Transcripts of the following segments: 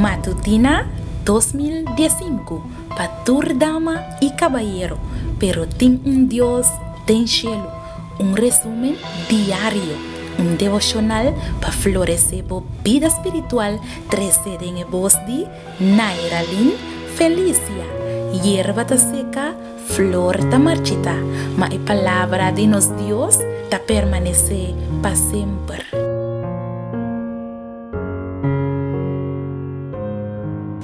Matutina dos mil diesinku pa tur dama i kabayero pero tin un Dios den shelu un resumen diario un devoshonal pa floresé bo bida spiritual tresé den e bos di Nairalyn Felicia Yerba ta seka flor ta marchitá ma e palabra di nos Dios ta permanesé pa semper.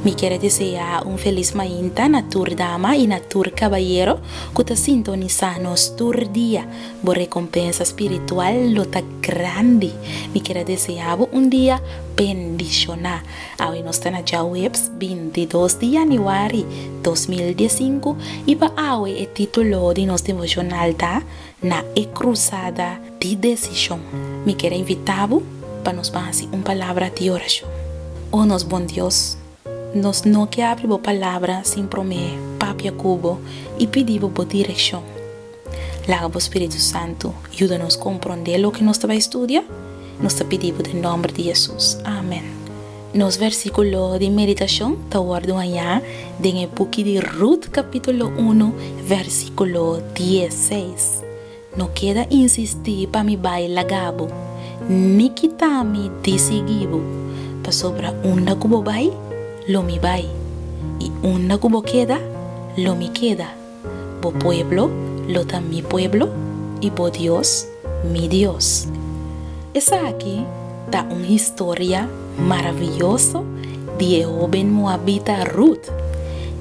Mi kier a deseá un felis mainta na tur dama i na tur kabayero ku ta sintonisá nos tur dia. Bo rekompensa spiritual lo ta grandi. Mi kier a deseá bo un dia bendishoná. Awe nos ta na djaweps binti i dos di yanüari dos mil dies sinku i pa awe e título di nos devoshonal ta, Na e Crusada di Desishon, mi kier a invitá bo pa nos ban hasi un palabra di orashon. O nos Bon Dios, nos no ke abri bo Palabra sin promé papia ku bo i pidi bo bo direkshon. Laga bo Spiritu Santu yuda nos komprondé loke nos ta bai studia. Nos ta pidi bo den nòmber di Hesus. Amen. Nos versíkulo di meditashon ta wòrdu hañá den e buki di Rut kapítulo unu, versíkulo dies seis, No keda insistí pa mi bai laga bo, ni kitá mi di sigui bo, pasobra unda ku bo bai, lo mi bai, i unda ku bo keda, lo mi keda. Bo pueblo lo ta mi pueblo, i bo Dios, mi Dios. Esaki ta un historia maravioso di e hóben moabita Rut,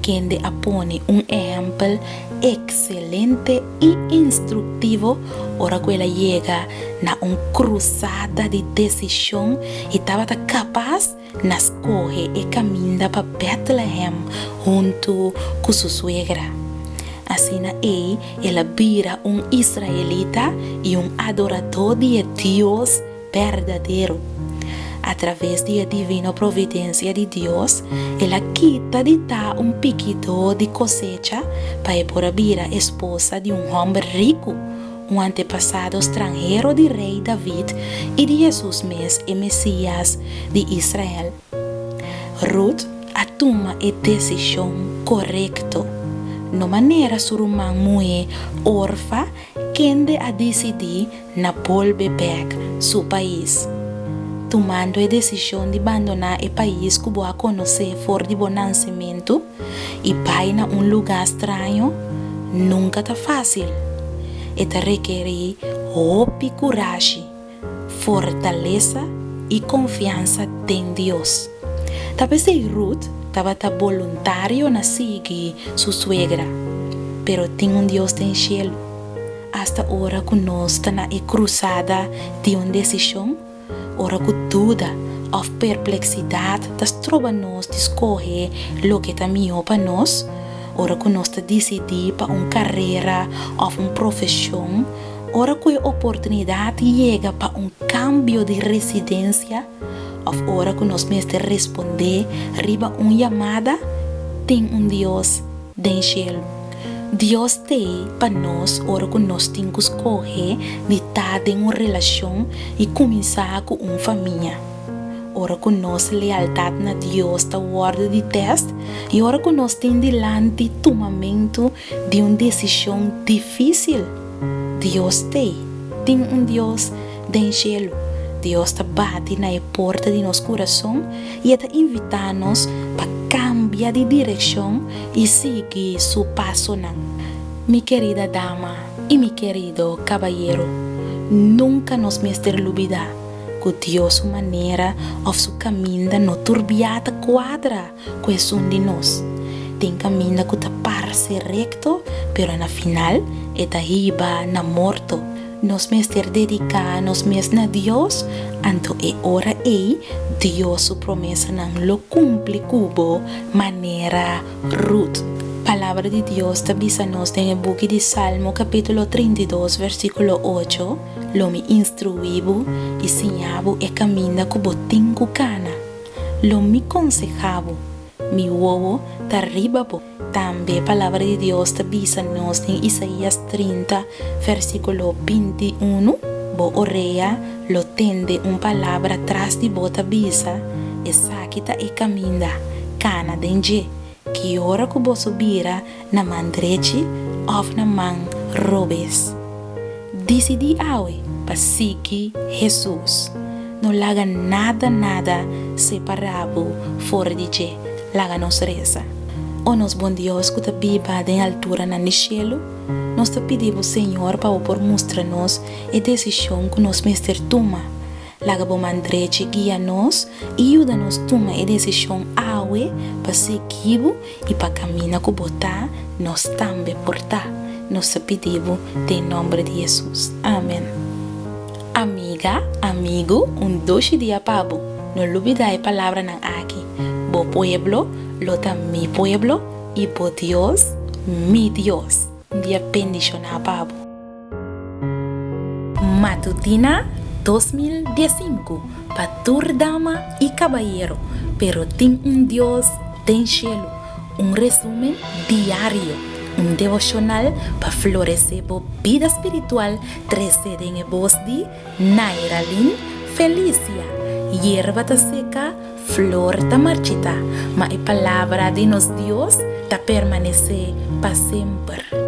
kende a pone un ehèmpel ekselente i instruktivo ora ku el a yega na un krusada di desishon i tabata kapas Na skohe e kaminda pa Bètlehem huntu ku su suegra. Asina ei el a bira un israelita i un adoradó di e Dios berdadero. Atraves di e divino providensia di Dios, el a kita di ta un pikidó di kosecha pa e por a bira esposa di un hòmber riku. un antepasado stranhero di Rei David i di Hesus mes, e Mesias di Israel. Rut a tuma e desishon korekto, no manera su ruman muhé Orfa kende a disidí na bolbe bèk su pais, tumando e desishon di bandoná e pais ku bo a konosé for di bo nansementu. i bai na un lugá straño nunka ta fásil. E ta rekerí hopi kurashi, fortalesa i konfiansa den Dios. Tal bes ei Rut tabata boluntario na sigui su suegra. Pero tin un Dios den shelu. Asta ora ku nos ta na e krusada di un desishon, Ora ku duda òf perpleksidat ta stroba nos di skohe loke ta mihó pa nos, ora ku nos ta disidí pa un karera òf un profeshon, ora ku e oportunidat yega pa un kambio di residensia, òf ora ku nos mester respondé riba un yamada, tin un Dios den shelu. Dios t'ei pa nos ora ku nos tin ku skohe di ta den un relashon i kuminsá ku un famia. Ora ku nos lealtat na Dios ta wòrdu di tèst i ora ku nos tin dilanti tumamentu di un desishon difísil, Dios t'ei tin un Dios Den shelu, Dios ta bati na e porta di nos kurason i e ta invitá nos pa kambia di direkshon i sigui su pasonan. Mi kerida dama i mi kerido kabayero, nunka nos mester lubidá ku Dios su manera òf su kaminda no turbiá ta kuadra. ku esun di nos. Tin kaminda ku ta parse rekto, pero na final e ta hiba na morto. Nos mester dediká nos mes na Dios, anto e ora ei Dios su promesanan lo kumpli ku bo, manera Rut. Palabra di Dios ta bisa nos den e buki di Salmo kapítulo trinta i dos versíkulo ocho, Lo mi instruí bo i siñá bo e kaminda ku bo tin ku kana. Lo mi konseha bo, mi wowo ta riba bo. Tambe Palabra di Dios ta bisa nos den Isaías trinta, versíkulo binti unu, Bo orea lo tende un palabra tras di bo ta bisa, Esaki ta e kaminda, kana den dje, Ki ora ku boso bira na man drechi òf na man robes? Disidí awe pa sigui Hesus. No laga nada nada separá bo for di dje. Laga nos resa. O nos Bon Dios ku ta biba den alturanan di shelu, nos ta pidi bo Señor pa bo por mustra nos e desishon ku nos mester tuma. Laga bo man drechi guia nos i yuda nos tuma e desishon awe pa sigui bo i pa kamina ku bo ta, nos tambe por ta. Nos ta pidi bo den nòmber di Hesus. Amen. Amiga, amigu, un dushi dia pa bo. No lubida e palabranan aki, Bo pueblo lo ta mi pueblo i bo Dios mi Dios. Un dia bendishoná pa bo. Matutina dos mil dies sinku Pa tur dama i kabayero Pero tin un Dios den shelu Un resumen diario Un devoshonal pa floresé bo bida spiritual Tresé den e bos di Nairalin Felicia Yerba ta seka, Flor ta marchita, ma e palabra di nos Dios ta permanece pa semper.